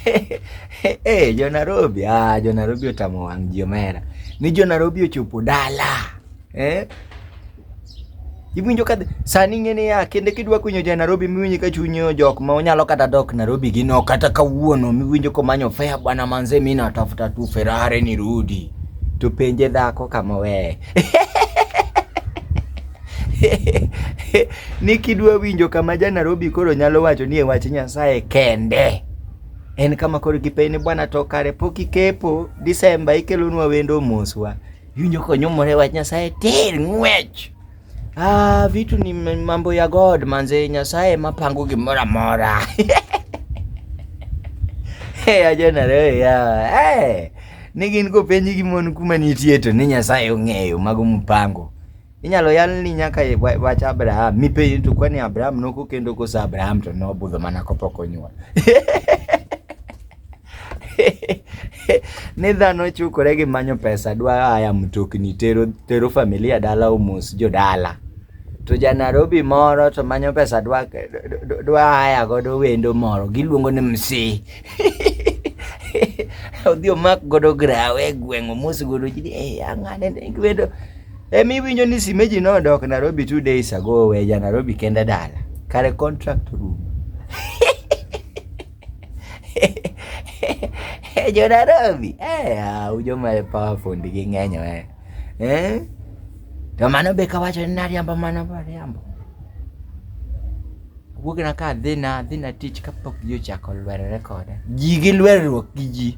Hey, eh, jo Nairobi, ah, jo Nairobi otamo wang' ji omera. Ni jo Nairobi ochopo dala. Eh? Iwinjo ka sani ng'e niya kende kidwa kunyo ja Nairobi miwinjo ka chunyo jok ma onyalo kata dok Nairobi gi no kata kawuono miwinjo ko manyo fea bwana manze mimi natafuta tu Ferrari nirudi. To penje dhako kama weye. ni kidwa winjo kama ja Nairobi koro nyalo wacho ni e wach Nyasaye kende en kama koro gipenj ni bwana to kare pok ikepo Disemba ikelonwa wendo moswa iwinjo konyumore wach Nyasaye tir ng'wech ah, vitu ni mambo ya God manze Nyasaye mapango gimoro amora hey, ajana leo ya hey. ni gin kopenji gi mon kuma nitie to ni Nyasaye ong'eyo mago mupango inyalo yal ni nyaka wach Abraham mipenji to kwani Abraham noko kendo koso Abraham to nobudho mana kopok onyuol ni dhano chukore gi manyo pesa dwa aya mtokni tero, tero familia dala omos jodala to ja Nairobi moro to manyo pesa dwa, dwa aya godo wendo moro giluongo ni msi odhi omak godo grawe e gweng'o mos godo ji ni eh ang'ane ne giwedo emi winjo ni simeji nodok Nairobi two days ago weja Nairobi kende dala kare contract room jo Nairobi eh au joma powerful gi ng'enyo eh eh? To mano be kawacho ni nariambo mano be ariambo. Wuok na ka adhi na adhi na tich kapok ji ochako lwerore koda. Ji gi lwerruok gi ji.